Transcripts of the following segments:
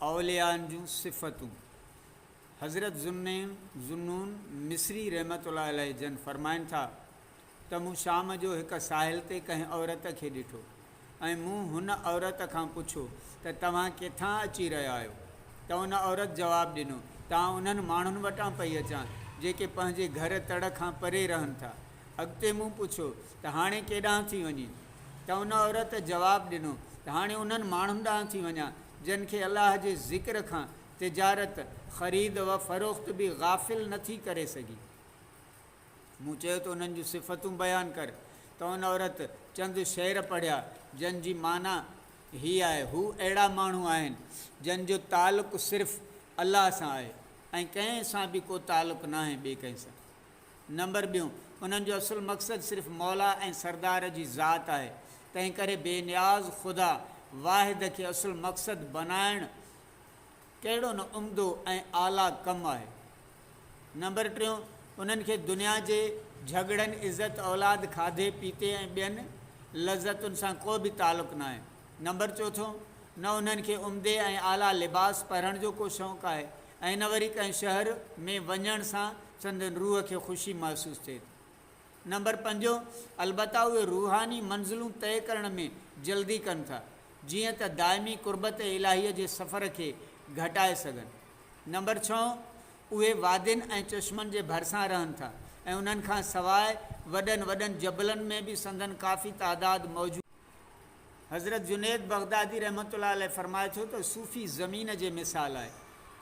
اوليائن جون صفتون، حضرت ذوالنون Zunnun مصري رحمة الله عليه جن فرمائن ٿا ته مون شام جو هڪ ساحل تي ڪنهن عورت کي ڏٺو ۽ مون هن عورت کان پڇو ته توهان ڪٿان اچي رهيا آهيو ته ان عورت جواب ڏنو ته آئون انهن ماڻهن وٽان پئي اچان جيڪي پنهنجي گهر تڙ کان پري رهن ٿا. اڳتي مون پڇيو ته هاڻي ڪيڏانهن ٿي وڃين ته ان عورت جواب ڏنو ته هاڻي انهن ماڻهن ڏانهن ٿي وڃان جن کي الله جي ذڪر کان تجارت، خريد و فروخت، به غافل نه ٿي ڪري سگهي. مون چيو ته انهن جون صفتون بيان ڪر ته ان عورت چند شعر پڙهيا جن جي معنيٰ هي آهي، هو اهڙا ماڻهو آهن جن جو تعلق صرف الله سان آهي ۽ ڪنهن سان به ڪو تعلق ناهي ٻئي ڪنهن سان. نمبر ٻيون، انهن جو اصل مقصد صرف مولا ۽ سردار جي ذات آهي، تنهن ڪري بي نياز خدا واحد کي اصل مقصد بنائڻ ڪهڙو نه عمدو ۽ اعليٰ ڪم آهي. نمبر ٽيون، انهن کي دنيا جي جهڳڙن، عزت، اولاد، کاڌي پيتي ۽ ٻين لذتن سان ڪو به تعلق ناهي. نمبر چوٿون، نه انهن کي عمدي ۽ اعليٰ لباس پهرڻ جو ڪو شوق آهي، ائين نه وري ڪنهن شهر ۾ وڃڻ سان سندن روح کي خوشي محسوس ٿئي ٿي. نمبر پنجون، البته اهي روحاني منزلون طئي ڪرڻ ۾ جلدي ڪن ٿا، جيئن ته دائمي قربت الاهيء جي سفر کي گهٽائي سگهن. نمبر ڇهون، اهي وادين ۽ چشمن جي ڀرسان رهن ٿا ۽ انهن کان سواء وڏن وڏن جبلن ۾ به سندن ڪافي تعداد موجود. حضرت جنيد بغدادي رحمة الله عليه فرمائي ٿو ته صوفي زمين جي مثال آهي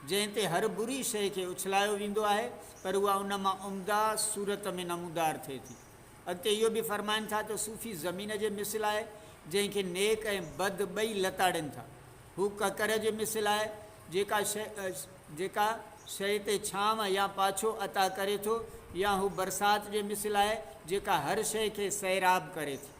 جنهن تي هر بري شيء کي اڇلايو ويندو آهي پر اها ان مان عمده صورت ۾ نمودار ٿئي ٿي. اڳتي اهو به فرمائن ٿا ته صوفي زمين جي مثل آهي جنهن کي نيڪ ۽ بد ٻئي لتاڙين ٿا. هو ڪڪر جي مثل آهي جيڪا شيء جيڪا شيء تي ڇانو يا پاڇو عطا ڪري ٿو يا هو برسات جي مثل آهي جيڪا هر شيء کي سيراب ڪري ٿي.